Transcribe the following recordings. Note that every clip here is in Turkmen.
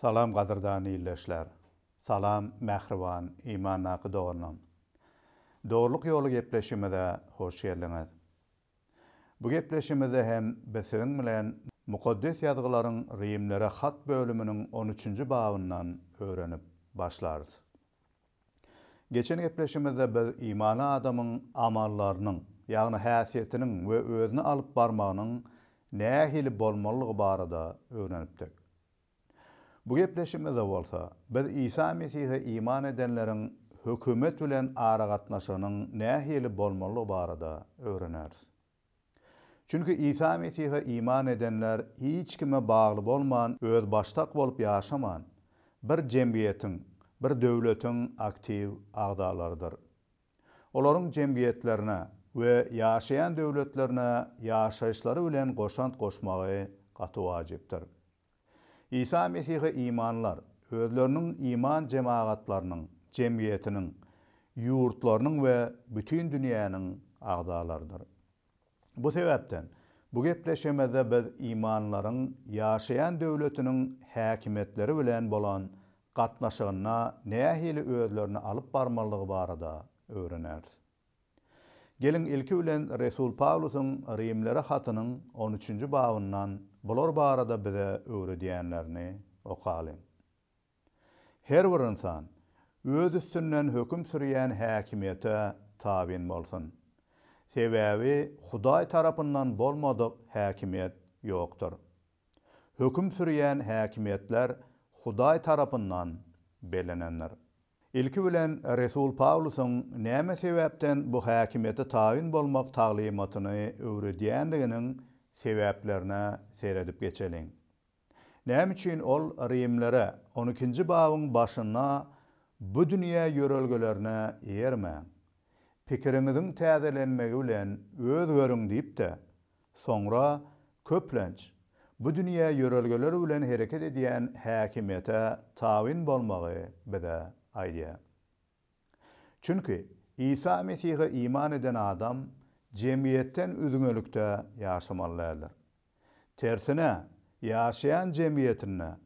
Salam gadyrdan ildeşler. Salam mähriban imandaky doganlarym. Dogrulyk ýoly gepleşigimize hoş geldiňiz. Bu gepleşigimizde hem biz siziň bilen Mukaddes Ýazgylaryň Rimlere hat bölüminiň on üçünji babyndan öwrenip başlarys. Geçen gepleşigimizde biz imanly adamyň amallarynyň, ýagny häsiýetiniň we özüni alyp barmagynyň nähili bolmalydygy barada öwrenipdik. Bu gepleşigimizde bolsa, biz Isa Mesihe iman edenleriň hökümet bilen aragatnaşygynyň nähili bolmalydygy barada öwreneris. Çünki Isa Mesihe iman edenler hiç kime bagly bolman, özbaşdak bolup ýaşaman, bir jemgyýetiň, bir döwletiň aktiw agzalarydyr. olaryň jemgyýetlerine we ýaşaýan döwletlerine ýaşaýyşlary bilen goşant goşmagy gaty wajypdyr. Isa Mesihe imanlar özleriniň iman jemagatlarynyň, jemgyýetiniň, ýurtlarynyň we bütin dünýäniň agzalarydyr. Bu sebäpden, bu gepleşigimizde biz imanlylaryň ýaşaýan döwletiniň häkimiýetleri bilen bolan gatnaşygynda nähili özlerini alyp barmalydygy barada öwreneris. Geliň, ilki bilen resul Pawlusyň Rimlere hatynyň on üçünji babyndan bular barada bize öwredýänlerini okalyň. Her bir ynsan öz üstünden höküm sürýän häkimiýete tabyn bolsun. Sebäbi Hudaý tarapyndan bolmadyk häkimiýet ýokdur. Höküm sürýän häkimiýetler Hudaý tarapyndan bellenendir. Ilki bilen resul Pawlusyň näme sebäpden bu häkimiýete tabyn bolmak taglymatyny öwredýändiginiň sebäplerine seredip geçeliň. Näme üçin ol rimlere, On ikinji babyň başynda, Bu dünýä ýörelgelerine eýermäň. Pikiriňiziň täzelenmegi bilen özgeriň diýipdi. Soňra, köplenç, bu dünýä ýörelgeleri bilen hereket edýän häkimiýete tabyn bolmagy bize aýdýar. Çünki Isa Mesihe iman eden adam jemgyýetden üzňelikde ýaşamaly däldir. Tersine, ýaşaýan jemgyýetinde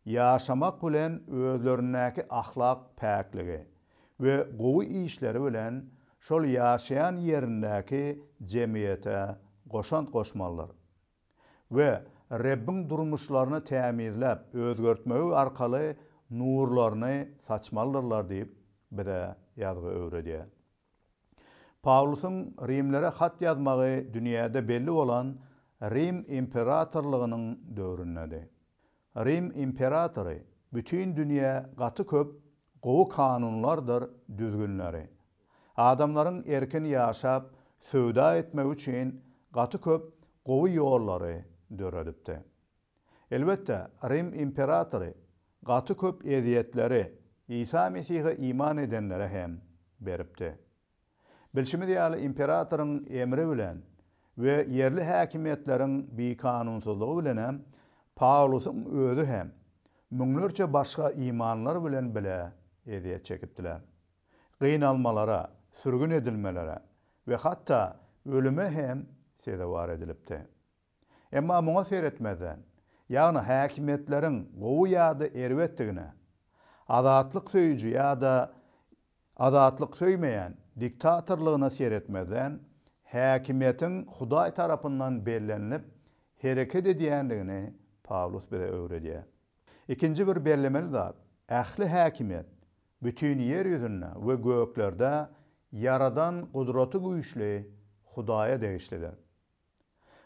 ýaşamak bilen özlerindäki ahlak päkligi we gowy işleri bilen şol ýaşaýan ýerindäki jemgyýete goşant goşmalydyr. we Rebbiň durmuşlaryny tämizläp, özgertmegi arkaly nurlaryny saçmalydyrlar diýip, bize ýazgy öwredýär. Pawlusyň rimlere hat ýazmagy dünýäde belli bolan Rim imperatorlygynyň döwründedi. Rim imperatory bütin dünýä gaty köp Gowy kanunlardyr düzgünleri. Adamlaryň erkin ýaşap, söwda etmegi üçin gaty köp gowy ýollary döredipdi. Elbetde, Rim imperatory gaty köp ezýetleri Isa Mesihe iman edenlere hem beripdi. Bilşimiz ýaly, imperatoryň emri bilen we ýerli häkimiýetleriň bikanunsyzlygy bilenem Pawlusyň özi hem müňlerçe başga imanlylar bilen bile ezýet çekipdiler. Gynalmalara, sürgün edilmelere we hatda ölüme hem sezewar edilipdi. Emma muňa seretmezden, ýagny häkimiýetleriň gowy ýa-da erbetdigine, azatlyk söýüji ýa-da azatlyk söýmeýän diktatorlygyna seretmezden, häkimiýetiň Hudaý tarapyndan bellenilip hereket edýändigini Pawlus bize öwredýär. Ikinji bir bellemeli zat, ähli häkimiýet bütin ýer ýüzünde we göklerde Ýaradan Gudratygüýçli Hudaýa degişlidir.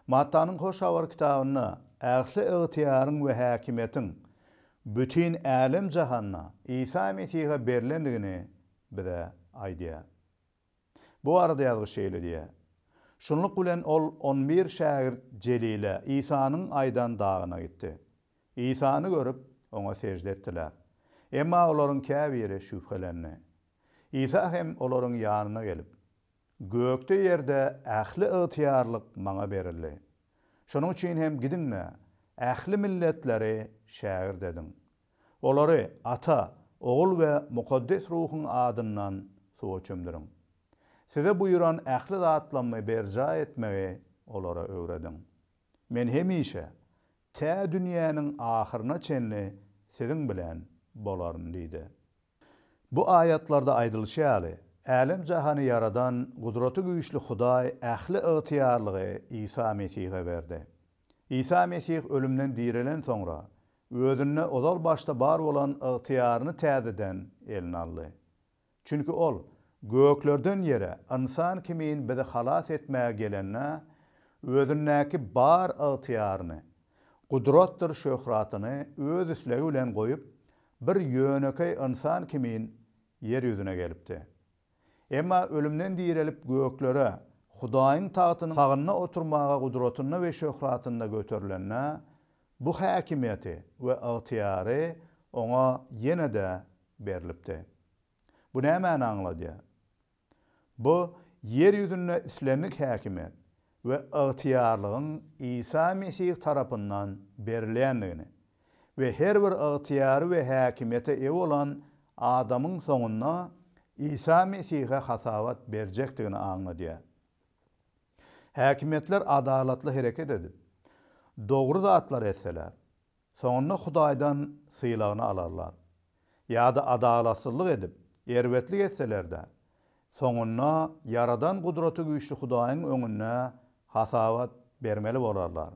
Mattanyň Hoş Habar kitabynda ähli ygtyýaryň we häkimiýetiň bütin älem-jahanda Isa Mesihe berlendigini bize aýdýar. Bu barada ýazgyç şeýle diýýär, Şunluk bilen ol on bir şägirt Jelile, Isanyň aýdan dagyna gitdi. Isany görüp, oňa sežde etdiler. Emma olaryň käbiri şübhelendi. Isa hem olaryň ýanyna gelip, Gökde-ýerde ähli ygtyýarlyk Maňa berildi. Şonuň üçin hem gidiň-de, ähli milletleri şägirt ediň. Olary Ata, Ogul we Mukaddes Ruhuň adyndan suwa çümdüriň. Size buýran ähli zatlamy berjaý etmegi olara öwrediň. Men hemişe, tä dünýäniň ahyryna çenli siziň bilen bolaryn diýdi. Bu aýatlarda aýdylyşy ýaly, älem-jahany ýaradan Gudraty güýçli Hudaý ähli ygtyýarlygy Isa Mesihe berdi. Isa Mesih ölümden direlen soňra, Özünde ozal başda bar bolan ygtyýaryny täzeden eline aldy. Çünki Ol göklerden ýere ynsan kimin bizi halas etmäge gelende, Özündäki bar ygtyýaryny, gudratdyr şöhratyny Öz islegi bilen goýup, Bir ýönekeý ynsan kimin ýer ýüzüne gelipdi. Emma ölümden direlip göklere, Hudaýyň tagtynyň sagynda oturmaga gudratynda we şöhratynda göterilende, bu häkimiýeti we ygtyýary oňa ýene-de berlipdi. Bu nämäni aňladýar? Bu ýer ýüzünde islendik häkimiýet we ygtyýarlygyň Isa Mesih tarapyndan berilýändigini we her bir ygtyýary we häkimiýete eýe bolan adamyň soňunda Isa Mesihe hasabat berjekdigini aňladýar. Häkimiýetler adalatly hereket edip, dogry zatlary etseler, Soňunda Hudaýdan sylagyny alarlar. Ýa-da adalatsyzlyk edip, erbetlik etseler-de, soňunda Ýaradan Gudraty Güýçli Hudaýyň öňünde hasabat bermeli bolarlar.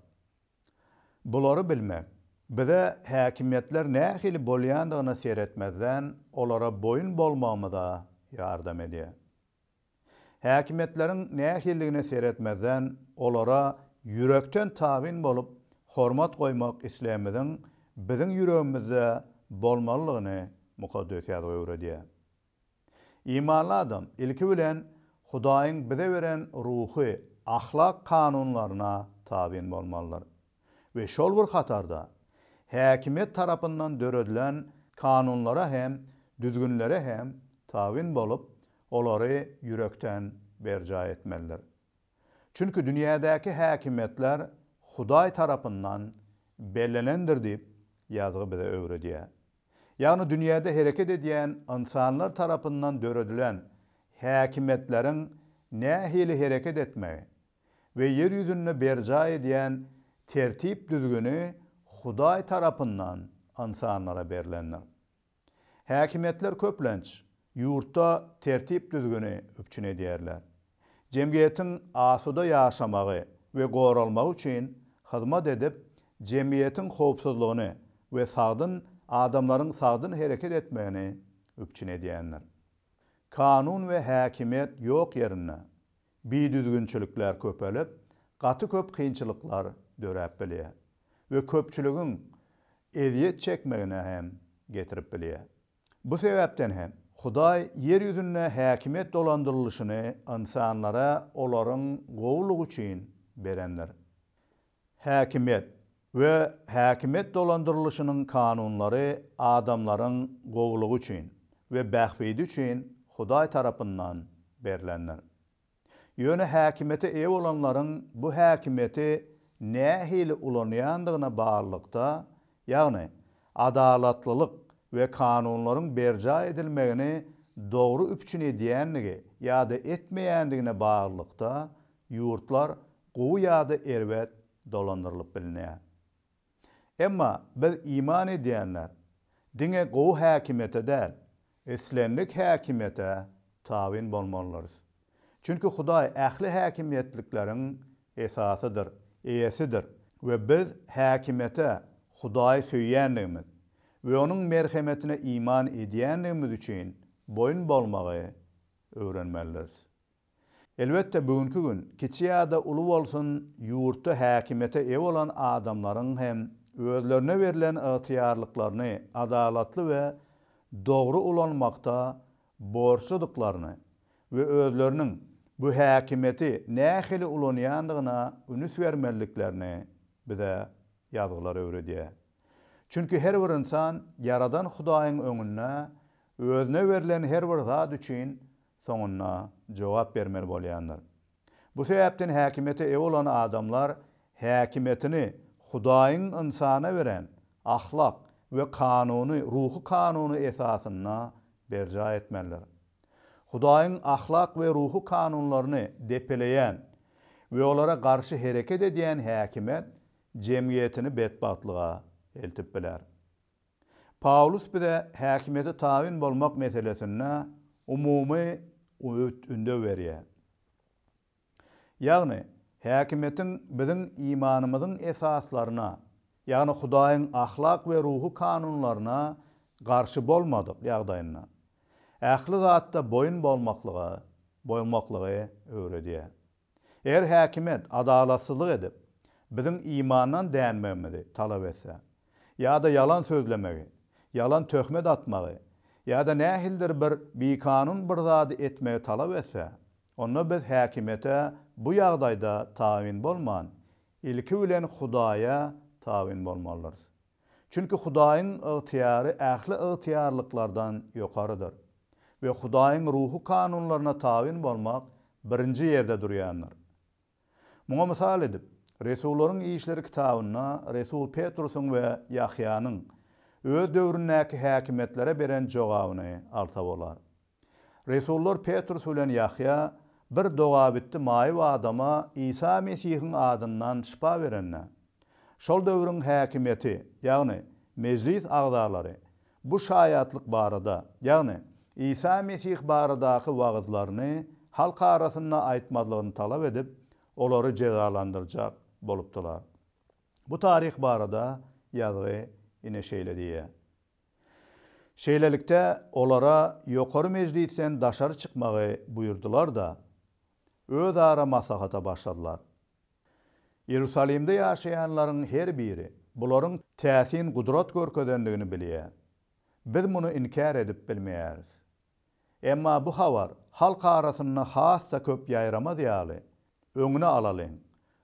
Bulary bilmek, bize häkimiýetler nähili bolýandygyna seretmezden, olara boýun bolmagymyza ýardam edýär. Häkimiýetleriň nähilligine seretmezden, olara ýürekden tabyn bolup, hormat goýmak islegimiziň biziň ýüregimizde bolmalydygyny Mukaddes Ýazgy öwredýär. Imanly adam, ilki bilen, Hudaýyň bize beren ruhy, ahlak kanunlaryna tabyn bolmalydyr we şol bir hatarda, häkimiýet tarapyndan döredilen kanunlara hem düzgünlere hem tabyn bolup, olary ýürekden berjaý etmelidir. Çünki dünýädäki häkimiýetler Hudaý tarapyndan bellenendir diýip, ýazgy bize öwredýär. Ýagny dünýäde hereket edýän ynsanlar tarapyndan döredilen häkimiýetleriň nähili hereket etmegi we ýer ýüzünde berjaý edýän tertip-düzgüni Hudaý tarapyndan ynsanlara berlendir. Häkimiýetler köplenç ýurtda tertip-düzgüni üpjün edýärler. Jemgyýetiň asuda ýaşamagy we goralmagy üçin hyzmat edip, jemgyýetiň howpsuzlygyny we sagdyn adamlaryň sagdyn hereket etmegini üpjün edýändir. Kanun we häkimiýet ýok ýerinde, Bidüzgünçilikler köpelip, gaty köp kynçylyklar döräp bilýär we köpçüligiň ezýet çekmegine hem getirip bilýär. Bu sebäpden hem Hudaý ýer ýüzünde häkimiýet dolandyrylyşyny ynsanlara olaryň gowulygy üçin berendir. Häkimiýet, we häkimiýet dolandyrylyşynyň kanunlary adamlaryň gowulygy üçin we bähbidi üçin Hudaý tarapyndan berlendir. Ýöne häkimiýete eýe bolanlaryň bu häkimiýeti nähili ulanýandygyna baglylykda, ýagny adalatlylyk we kanunlaryň berjaý edilmegini dogry üpjün edýändigi ýa-da etmeýändigine baglylykda, ýurtlar gowy ýa-da erbet dolandyrylyp bilinýär. Emma biz iman edýänler diňe gowy häkimiýete däl, islendik häkimiýete tabyn bolmalydyrys. Çünki Hudaý ähli häkimiýetlikleriň esasydyr, eýesidir we biz häkimiýete Hudaýy söýýändigimiz we onuň merhemetine iman edýändigimiz üçin boýun bolmagy öwrenmelidiris. Elbetde, bu günki gün, kiçi ýa-da uly bolsun, ýurtda häkimiýete eýe bolan adamlaryň hem özlerine berlen ygtyýarlyklaryny adalatly we dogry ulanmakda borçludyklaryny we özleriniň bu häkimiýeti nähili ulanýandygyna ünüs bermeliliklerini bize ýazgylar öwredýär. Çünki her bir ynsan Ýaradan Hudaýyň öňünde özüne berlen her bir zat üçin soňunda jogap bermeli bolýandyr. Bu sebäpden häkimiýete eýe bolan adamlar häkimiýetini Hudaýyň ynsana beren ahlak we kanuny, ruhy kanuny esasynda berjaý etmelidir. Hudaýyň ahlak we ruhy kanunlaryny depeleýän we olara garşy hereket edýän häkimiýet jemgyýetini betbagtlyga eltip biler. Pawlus bize häkimiýete tabyn bolmak meselesinde umumy öwüt-ündew berýär. Ýagny, häkimiýetiň biziň imanymyzyň esaslaryna, ýagny Hudaýyň ahlak we ruhy kanunlaryna garşy bolmadyk ýagdaýynda, ähli zatda boýun bolmaklyga, bolmaklygy öwredýär. Eger häkimiýet adalatsyzlyk edip, biziň imandan dänmegimizi talap etse, ýa-da ýalan sözlemegi, ýalan töhmet atmagy, ýa-da nähilidir bir bikanun bir zady etmegi talap etse, onda biz häkimiýete bu ýagdaýda tabyn bolman, ilki bilen Hudaýa tabyn bolmalydyrys. Çünki Hudaýyň ygtyýary ähli ygtyýarlyklardan ýokarydyr we Hudaýyň ruhy kanunlaryna tabyn bolmak birinji ýerde durýandyr. Muňa mysal edip, Resullaryň işleri kitabynda resul Petrusyň we Ýahýanyň öz döwründäki häkimiýetlere beren jogabyny alsa bolar. Resullar Petrus bilen Ýahýa bir dogabitdi maýyp adama Isa Mesihiň adyndan şypa berende, şol döwrüň häkimiýeti, ýagny mejlis agzalary bu şaýatlyk barada, ýagny Isa Mesih baradaky wagyzlaryny halk arasynda aýtmazlygyny talap edip, olary jezalandyrjak bolupdylar. Bu taryh barada ýazgy ine şeýle diýýär. Şeýlelikde, olara Ýokary mejlisden daşary çykmagy buýurdylar-da, özara maslahata başladylar. Iýerusalimde ýaşaýanlaryň her biri bularyň täsin gudrat görkezendigini bilýär. Biz muny inkär edip bilmeýäris. Emma bu habar halk arasynda has-da köp ýaýramaz ýaly, öňüni alalyň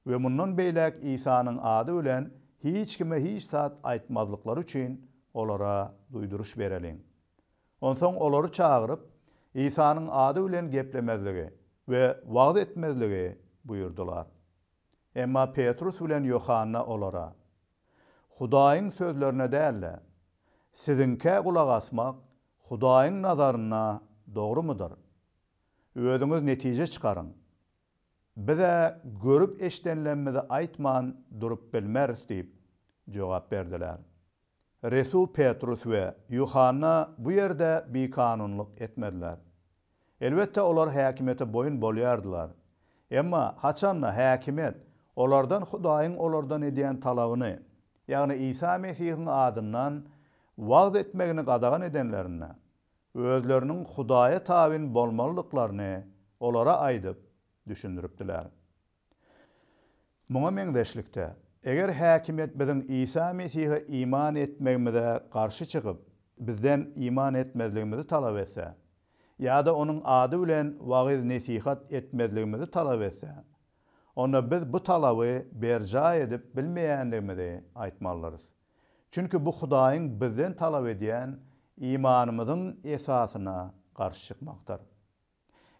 we mundan beýläk Isanyň ady bilen hiç kime hiç zat aýtmazlyklary üçin olara duýduryş bereliň. Onsoň olary çagyryp, Isanyň ady bilen geplemezligi we wagyz etmezligi buýurdylar. Emma Petrus bilen Ýohanna olara, Hudaýyň sözlerine däl-de, siziňkä gulak asmak Hudaýyň nazarynda dogrumydyr? Özüňiz netije çykaryň. Biz-ä görüp-eşdenlemmizi aýtman durup bilmeris diýip jogap berdiler. Resul Petrus we Ýuhanna bu ýerde bikanunlyk etmediler. Elbetde, olar häkimiýete boýun bolýardylar. Emma haçan-da häkimiýet olardan Hudaýyň olardan edýän talabyny, ýagny Isa Mesihiň adyndan wagyz etmegini gadagan edenlerinde, özleriniň Hudaýa tabyn bolmalydyklaryny olara aýdyp, düşündiripdiler. Muňa meňzeşlikde, eger häkimiýet biziň Isa Mesihe iman etmegimize garşy çykyp, bizden iman etmezligimizi talap etse ýa-da onuň ady bilen wagyz-nesihat etmezligimizi talap etse, onda biz bu talaby berjaý edip bilmeýändigimizi aýtmalydyrys. Çünki bu Hudaýyň bizden talap edýän imanymyzyň esasyna garşy çykmakdyr.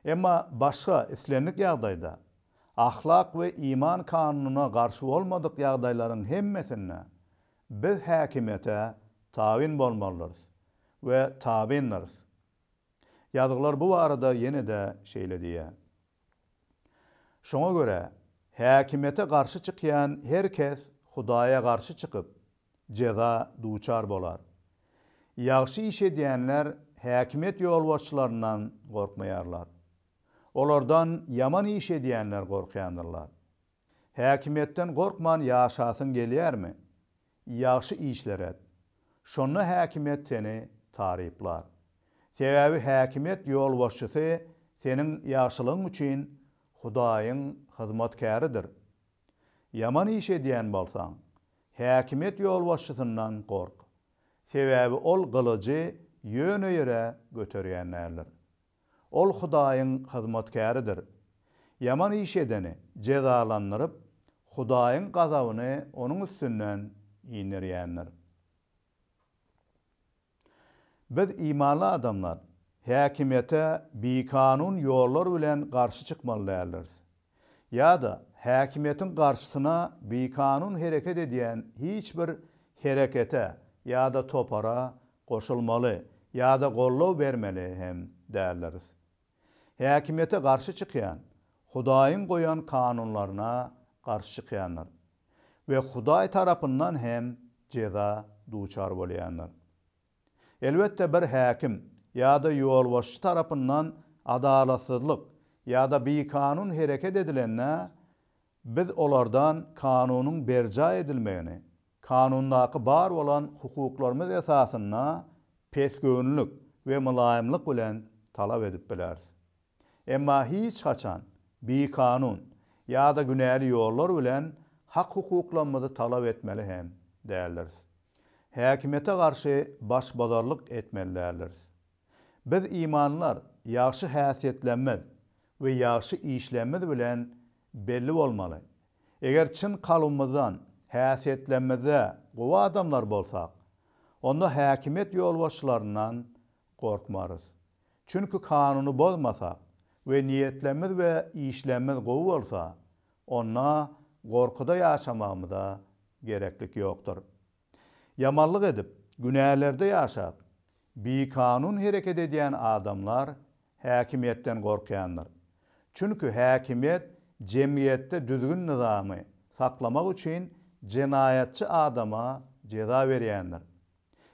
Emma başga islendik ýagdaýda, ahlak we iman kanunyna garşy bolmadyk ýagdaýlaryň hemmesinde biz häkimiýete tabyn bolmalydyrys we tabyndyrs. Ýazgylar bu barada ýene-de şeýle diýýär, Şoňa görä, häkimiýete garşy çykýan her kes Hudaýa garşy çykyp, jeza duçar bolar. Ýagşy iş edýänler häkimiýet ýolbaşçylaryndan gorkmaýarlar. Olardan ýaman iş edýänler gorkýandyrlar. Häkimiýetden gorkman ýaşasyň gelýärmi? Ýagşy işler et. Şonda häkimiýet seni taryplar. Sebäbi häkimiýet ýolbaşçysy seniň ýagşylygyň üçin Hudaýyň hyzmatkäridir. Ýaman iş edýän bolsaň, Häkimiýet ýolbaşçysyndan gork. Sebäbi ol gylyjy ýöne ýere göterýän däldir. Ol Hudaýyň hyzmatkäridir. Ýaman iş edeni jezalandyryp, Hudaýyň gazabyny onuň üstünden inderýändir. Biz imanly adamlar, häkimiýete bikanun ýollar bilen garşy çykmaly däldiris. Ýa-da häkimiýetiň garşysyna bikanun hereket edýän hiç bir herekete ýa-da topara goşulmaly ýa-da goldaw bermeli hem däldiris, Häkimiýete garşy çykýan, Hudaýyň goýan kanunlaryna garşy çykýandyr we Hudaý tarapyndan hem jeza duçar bolýandyr. Elbetde, bir häkim ýa-da ýolbaşçy tarapyndan adalatsyzlyk ýa-da bikanun hereket edilende, Biz olardan kanunyň berjaý edilmegini, kanundaky bar bolan hukuklarymyz esasynda pesgöwünlik we mylaýymlyk bilen talap edip bileris. Emma hiç haçan bikanun ýa-da günäli ýollar bilen hak-hukuklamyzy talap etmeli hem däldiris. Häkimiýete garşy başbozarlyk etmeli däldiris. Biz imanlar ýagşy häsiýetlerimiz we ýagşy işlerimiz bilen belli bolmaly. Eger çyn kalbymyzdan häsiýetlerimizde gowy adamlar bolsak, onda häkimiýet ýolbaşçylaryndan gorkmarys. Çünki kanuny bozmasak we niýetlerimiz we işlerimiz gowy bolsa, onda gorkuda ýaşamagymyza gereklik ýokdur. Ýamanlyk edip, günälerde ýaşap, bikanun hereket edýän adamlar häkimiýetden gorkýandyr. Çünki häkimiýet jemgyýetde düzgün-nyzamy saklamak üçin jenaýatçy adama jeza berýändir.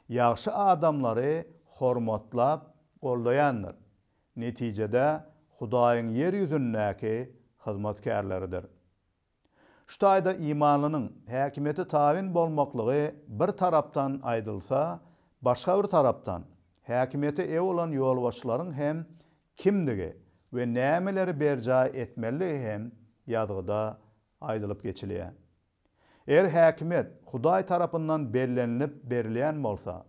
Ýagşy adamlary hormatlap, goldaýandyr. Netijede, Hudaýyň ýer ýüzündäki hyzmatkärleridir. Şu taýda imanlynyň häkimiýete tabyn bolmaklygy bir tarapdan aýdylsa, başga bir tarapdan, häkimiýete eýe bolan ýolbaşçylaryň hem kimdigi we nämeleri berjaý etmelidigi hem ýazgyda aýdylyp geçilýär. Eger häkimiýet Hudaý tarapyndan bellenilip berilýän bolsa,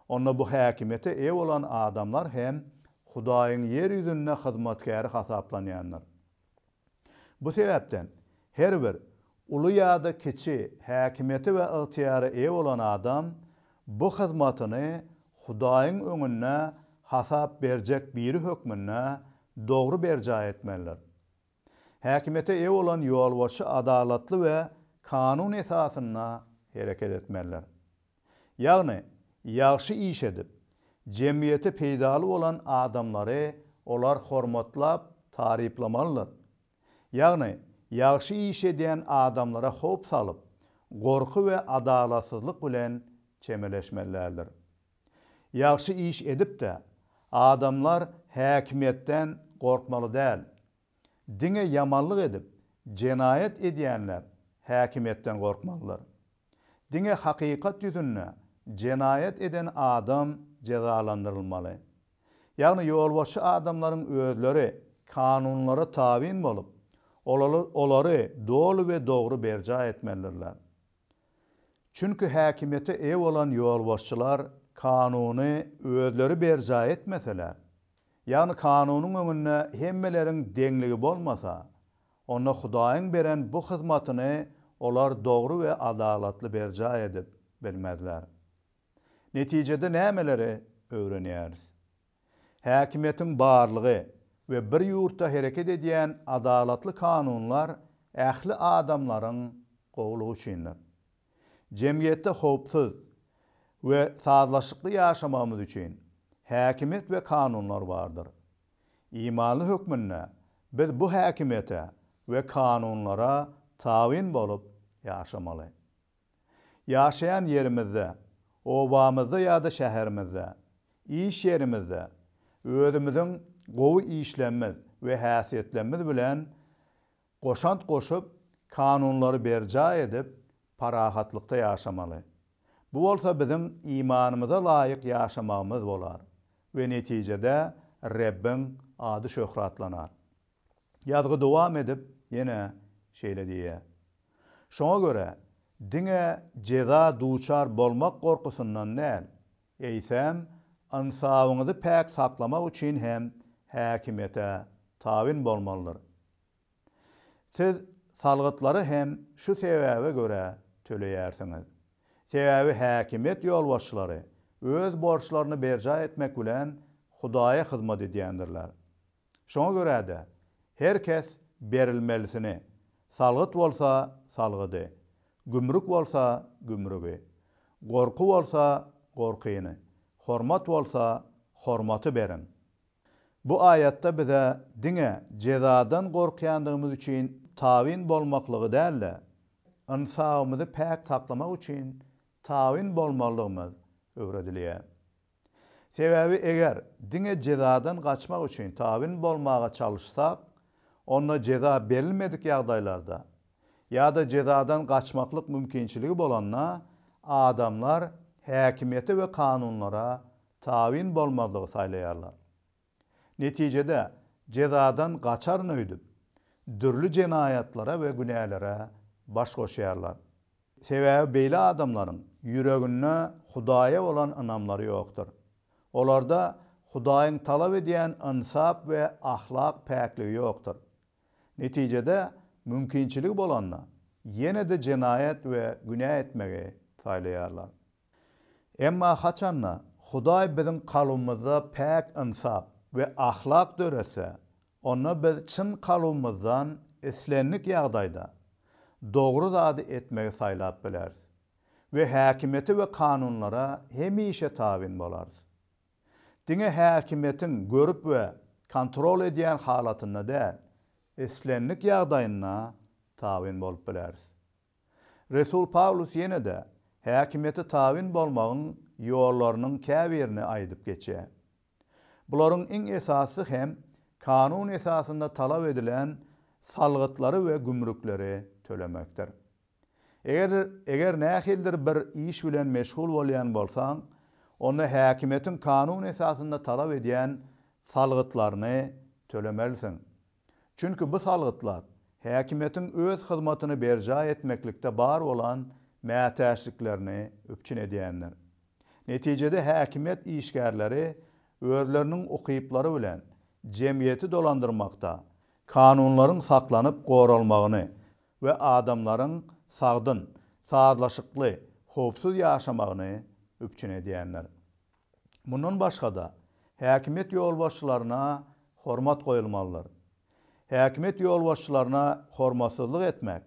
onda bu häkimiýete eýe bolan adamlar hem Hudaýyň ýer ýüzünde hyzmatkäri hasaplanýandyr. Bu sebäpden, her bir, uly ýa-da kiçi, häkimiýete we ygtyýara eýe bolan adam bu hyzmatyny Hudaýyň öňünde hasap berjek biri hökmünde dogry berjaý etmelidir. Häkimiýete eýe bolan ýolbaşçy adalatly we kanun esasynda hereket etmelidir. Ýagny, ýagşy iş edip, jemgyýete peýdaly bolan adamlary olar hormatlap, taryplamalydyr. Ýagny, ýagşy iş edýän adamlara howp salyp, gorky we adalatsyzlyk bilen çemeleşmelidirler. Ýagşy iş edip-de, adamlar häkimiýetden gorkmaly däl. Diňe ýamanlyk edip, jenaýat edýänler häkimiýetden gorkmalydyr. Diňe hakykat ýüzünde jenaýat eden adam jezalandyrylmaly. Ýagny ýolbaşçy adamlaryň özleri kanunlara tabyn bolup, olary doly we dogry berjaý etmelidirler. Çünki häkimiýete eýe bolan ýolbaşçylar kanuny özleri berjaý etmeseler, Ýagny kanunyň öňünde hemmeleriň deňligi bolmasa, onda Hudaýyň beren bu hyzmatyny olar dogry we adalatly berjaý edip bilmezler. Netijede nämeleri öwrenýäris? Häkimiýetiň barlygy we bir ýurtda hereket edýän adalatly kanunlar ähli adamlaryň gowulygy üçindir. Jemgyýetde howpsuz we sazlaşykly ýaşamagymyz üçin häkimiýet we kanunlar bardyr. Imanly hökmünde biz bu häkimiýete we kanunlara tabyn bolup ýaşamaly. Ýaşaýan ýerimizde, obamyzda ýa-da şäherimizde, iş ýerimizde özümiziň gowy işlemmiz we häsiýetlemmiz bilen goşant goşup, kanunlary berjaý edip, parahatlykda ýaşamaly. Bu bolsa biziň imanymyza laýyk ýaşamagymyz bolar we netijede Rebbiň ady şöhratlanar. Ýazgy dowam edip, ýene şeýle diýýär, Şoňa görä, diňe jeza duçar bolmak gorkusyndan däl, eýsem, ynsabyňyzy päk saklamak üçin hem häkimiýete tabyn bolmalydyr. Siz salgytlary hem şu sebäbe görä töleýärsiňiz. Sebäbi häkimiýet ýolbaşçylary öz borçlaryny berjaý etmek bilen Hudaýa hyzmat edýändirler. Şoňa görä-de, her kes berilmelisini, salgyt bolsa salgydy, gümrük bolsa gümrügi, gorky bolsa gorkyny, hormat bolsa hormaty beriň. Bu aýatda bize diňe jezadan gorkýandygymyz üçin tabyn bolmaklygy däl-de, ynsabymyzy päk saklamak üçin tabyn bolmalydygymyz öwredilýär. Sebäbi eger diňe jezadan gaçmak üçin tabyn bolmaga çalyşsak, onda jeza berilmedik ýagdaýlarda ýa-da jezadan gaçmaklyk mümkinçiligi bolanda adamlar häkimiýete we kanunlara tabyn bolmazlygy saýlaýarlar. Netijede, jezadan gaçaryn öýdüp, dürli jenaýatlara we günälere baş goşýarlar. Sebäbi beýle adamlaryň ýüreginde Hudaýa bolan ynamlary ýokdur. Olarda Hudaýyň talap edýän ynsap we ahlak päkligi ýokdur. Netijede, mümkinçiligi bolanda, ýene-de jenaýat we günä etmegi saýlaýarlar. Emma haçan-da, Hudaý biziň kalbymyzda päk ynsap we ahlak döretse, onda biz çyn kalbymyzdan islendik ýagdaýda dogry zady etmegi saýlap bileris we häkimiýete we kanunlara hemişe tabyn bolarys. Diňe häkimiýetiň görüp we kontrol edýän halatynda däl, islendik ýagdaýynda tabyn bolup bileris. Resul Pawlus ýene-de häkimiýete tabyn bolmagyň ýollarynyň käbirini aýdyp geçýär. Bularyň iň esasysy hem kanun esasynda talap edilen salgytlary we gümrükleri tölemekdir. Eger eger nähilidir bir iş bilen meşgul bolýan bolsaň, onda häkimiýetiň kanun esasynda talap edýän salgytlaryny tölemelisiň. Çünki bu salgytlar häkimiýetiň öz hyzmatyny berjaý etmeklikde bar bolan mätäçliklerini üpjün edýändir. Netijede häkimiýet işgärleri özleriniň ukyplary bilen jemgyýeti dolandyrmakda, kanunlaryň saklanyp goralmagyny we adamlaryň sagdyn, sazlaşykly, howpsuz ýaşamagyny üpjün edýändir. Mundan başga-da, häkimiýet ýolbaşçylaryna hormat goýulmalydyr. Häkimiýet ýolbaşçylaryna hormatsyzlyk etmek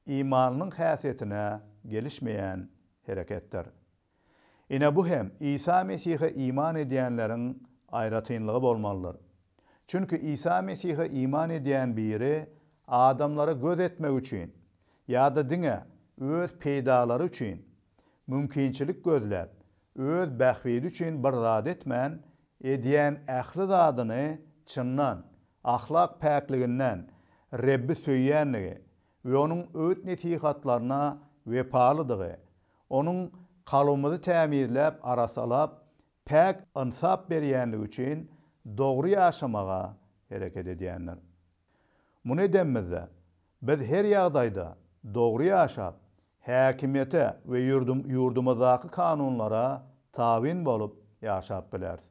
imanlynyň häsiýetine gelişmeýän hereketdir. Ine, bu hem Isa Mesihe iman edýänleriň aýratynlygy bolmalydyr. Çünki Isa Mesihe iman edýän biri adamlara göz etmek üçin ýa-da diňe öz peýdalary üçin mümkinçilik gözläp, Öz bähbidi üçin bir zat etmän, edýän ähli zadyny çyndan, ahlak päkliginden, Rebbi söýýänligi we Onuň öwüt-nesihatlaryna wepalydygy, Onuň kalbymyzy tämizläp, arassalap, päk ynsap berýänligi üçin dogry ýaşamaga hereket edýändir. Muny edemizde, biz her ýagdaýda dogry ýaşap, häkimiýete we ýurdumyzdaky kanunlara tabyn bolup ýaşap bileris.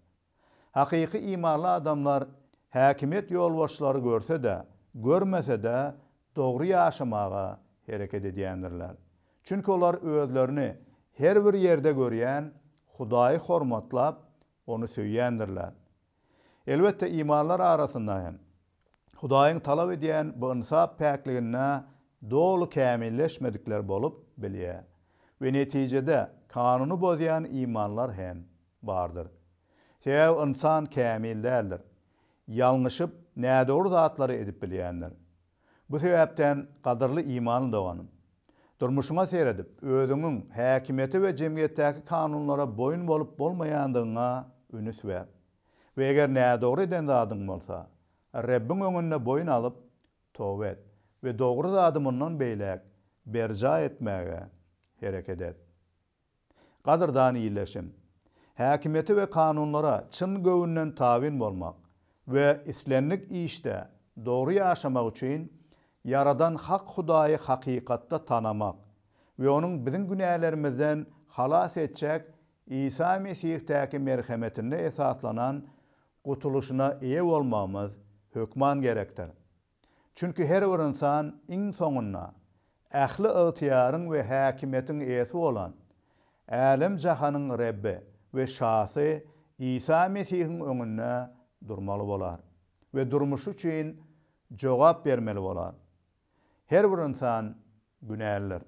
Hakyky imanly adamlar häkimiýet ýolbaşçylary görse-de, görmese-de dogry ýaşamaga hereket edýändirler. Çünki olar özlerini her bir ýerde görýän Hudaýy hormatlap, Ony söýýändirler. Elbetde, imanlar arasynda hem Hudaýyň talap edýän bu ynsap päkliginde doly kämilleşmedikler bolup bilýär we netijede kanuny bozýan imanlar hem bardyr. Sebäbi ynsan kämil däldir. Ýalňyşyp, nädogry zatlary edip bilýändir. Bu sebäpden, gadyrly imanly doganym, durmuşyňa seredip, özüňiň häkimiýete we jemgyýetdäki kanunlara boýun bolup-bolmaýandygyňa ünüs ber we eger nädogry eden zadyň bolsa, Rebbiň öňünde boýun alyp, toba et we dogry zady mundan beýläk berjaý etmäge hereket et. Gadyrdan Ildeşim! Häkimiýete we kanunlara çyn göwünden tabyn bolmak we islendik işde dogry ýaşamak üçin Ýaradan Hak Hudaýy hakykatda tanamak we onuň biziň günälerimizden halas etjek Isa Mesihdaky merhemetinde esaslanan gutulyşyna eýe bolmagymyz hökman gerekdir. Çünki her bir ynsan iň soňunda ähli ygtyýaryň we häkimiýetiň eýesi bolan, älem-jahanyň Rebbi we Şasy Isa Mesihiň öňünde durmaly bolar we durmuşy üçin jogap bermeli bolar. Her bir ynsan günälidir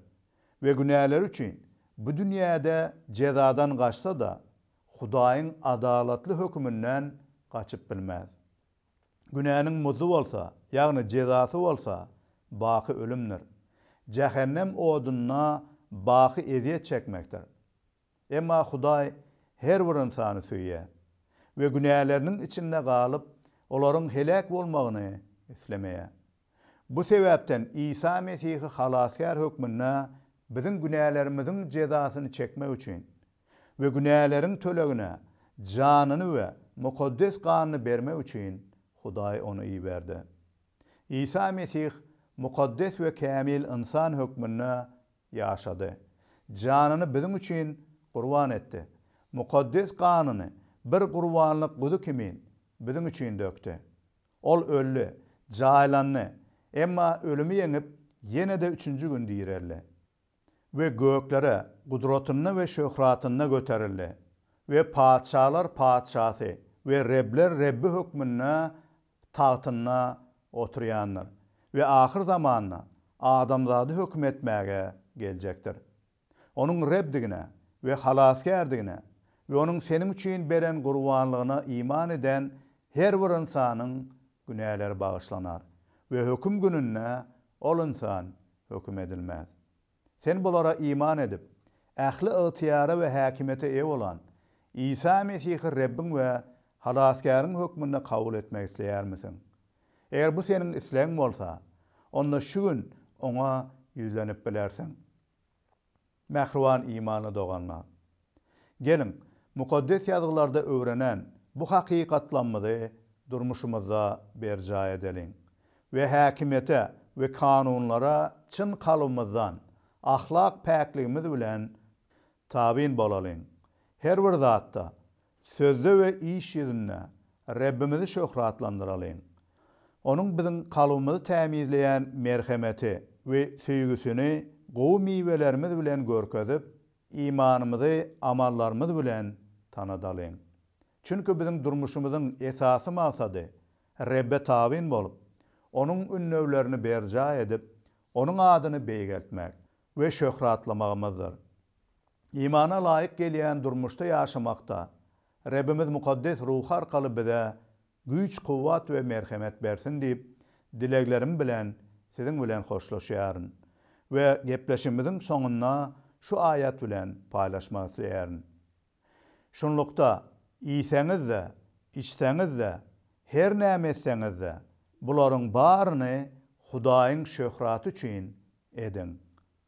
we günäleri üçin bu dünýäde jezadan gaçsa-da, Hudaýyň adalatly höküminden gaçyp bilmez. Günäniň muzy bolsa, ýagny jezasy bolsa, baky ölümdir. Jähennem odunda baky ezýet çekmekdir. Emma Hudaý her bir ynsany söýýär we günäleriniň içinde galyp, olaryň heläk bolmagyny islemeýär. Bu sebäpden Isa Mesihi Halasgär hökmünde biziň günälerimiziň jezasyny çekmek üçin we günäleriň tölegine janyny we mukaddes ganyny bermek üçin Hudaý ony iberdi. Isa Mesih mukaddes we kämil ynsan hökmünde ýaşady, janyny biziň üçin gurban etdi, mukaddes ganyny bir gurbanlyk guzy kimin biziň üçin dökdi. Ol öldi, jaýlandy, emma ölümi ýeňip, ýene-de üçünji gün direldi. we göklere gudratynda we şöhratynda göterildi we patyşalar Patyşasy we rebler Rebbi hökmünde tagtynda oturýandyr we ahyr zamanda adamzady höküm etmäge geljekdir. Onuň Rebdigine we Halasgärdigine we Onuň seniň üçin beren gurbanlygyna iman eden her bir ynsanyň günäleri bagyşlanar we höküm gününde ol ynsan Höküm edilmez. Sen bulara iman edip, ähli ygtyýara we häkimiýete eýe bolan Isa Mesihi Rebbiň we Halasgäriň hökmünde kabul etmek isleýärmisiň? Eger bu seniň islegiň bolsa, onda şu gün Oňa ýüzlenip bilersiň. Mähriban imanly doganlar! Geliň, Mukaddes Ýazgylarda öwrenen bu hakykatlamyzy durmuşymyzda berjaý edeliň we häkimiýete we kanunlara çyn kalbymyzdan, ahlak päkligimiz bilen tabyn bolalyň. Her bir zatda Sözde we iş ýüzünde Rebbimizi şöhratlandyralyň! Onuň biziň kalbymyzy tämizleýän merhemeti we söýgüsini gowy miwelerimiz bilen görkezip, imanymyzy amallarymyz bilen tanadalyň. Çünki biziň durmuşymyzyň esasy maksady Rebbe tabyn bolup, Onuň ündewlerini berjaý edip, Onuň adyny beýgeltmek, we şöhratlamagymyzdyr. Imana laýyk gelýän durmuşda ýaşamakda Rebbimiz mukaddes ruhy arkaly bize güýç-kuwwat we merhemet bersin diýip, dileglerim bilen siziň bilen hoşlaşýaryn we gepleşigimiziň soňunda şu aýat bilen paýlaşmak isleýärin. Şunlukda, iýseňiz-de, içseňiz-de, her näme etseňiz-de, bularyň baryny Hudaýyň şöhraty üçin ediň.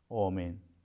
Omyn.